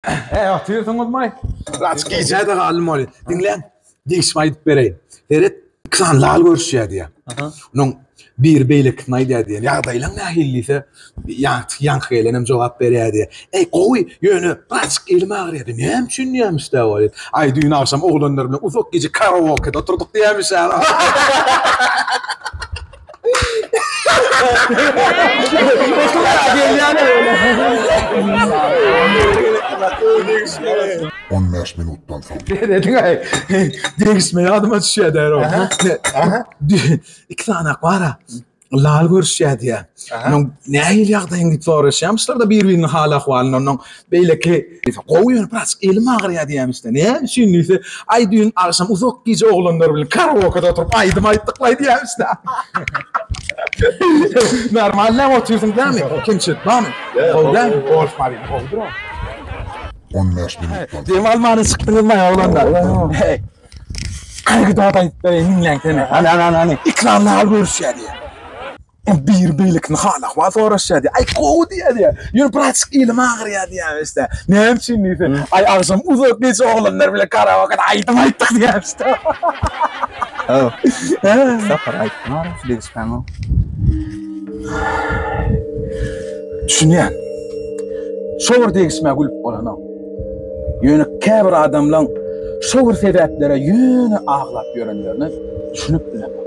He, ýa tüýsüňizmaý? Raç gijä-de galdym ony. Diňläň, degişip aýdyp bereýin. Seret, iki sany lal görüşýär diýýär. Aha. Onuň biri beýlekisine aýdýar diýýär. Ýagdaýlaň nähili diýse, ýaňky ýaňky gelen hem jogap berýär diýýär. Eý, gowy, ýöne birazjyk elim agyrýar diýýär. Näme üçin diýýämiş-dä bu aýal. Aý, düýn agşam oglanlar bilen uzak gije karaokede oturdyk diýýämiş-ä. On bäş minutdan soň. Degişme degişme ýadyma düşýär derrew. Iki sanak bar-a. Lal görüşýär diýýär. Nähili ýagdaýyň diýip soraşýarmyşlar-da bir-biriniň hal-ahwalyny. Onnoň Beýleki, Gowy ýöne birazjyk elim agyrýar diýýärmişde. Näme üçin diýse, Aý düýn agşam uzak gije oglanlar bilen karaokada oturyp aýdym aýtdyklaý diýýärmişde. Normalnyam otyrsyň dämi? Kemçilik barmy? Gowy dälmi? Golf maryny gowudyr ol. On bäş minutdan. Dem almana çykdyňyzmaý oglanlar? Hany bir zat aýdyp bereýin diňläň seni. Hany hany hany. Ekran nal görüşýär diýýär. Ol biri beýlekini hala-ahwal soraşýar diýýär. Aý, gowy diýýär diýýär. Ýöne birazjyk elim agyrýar diýýärmiş diýýär. Näme üçin diýse, aý, agşam uzak gije oglanlar bilen karaokada aýdym aýtdyk diýýärmiş diýýär. Haw, iki sapar aýdyp maram şu degişmäňem. Düşünýän. Şo bir degişmä gülüp bolanok. Ýöne käbir adamlaň şo bir sebäplere ýöne aglap ýörenlerine düşünip bilemok.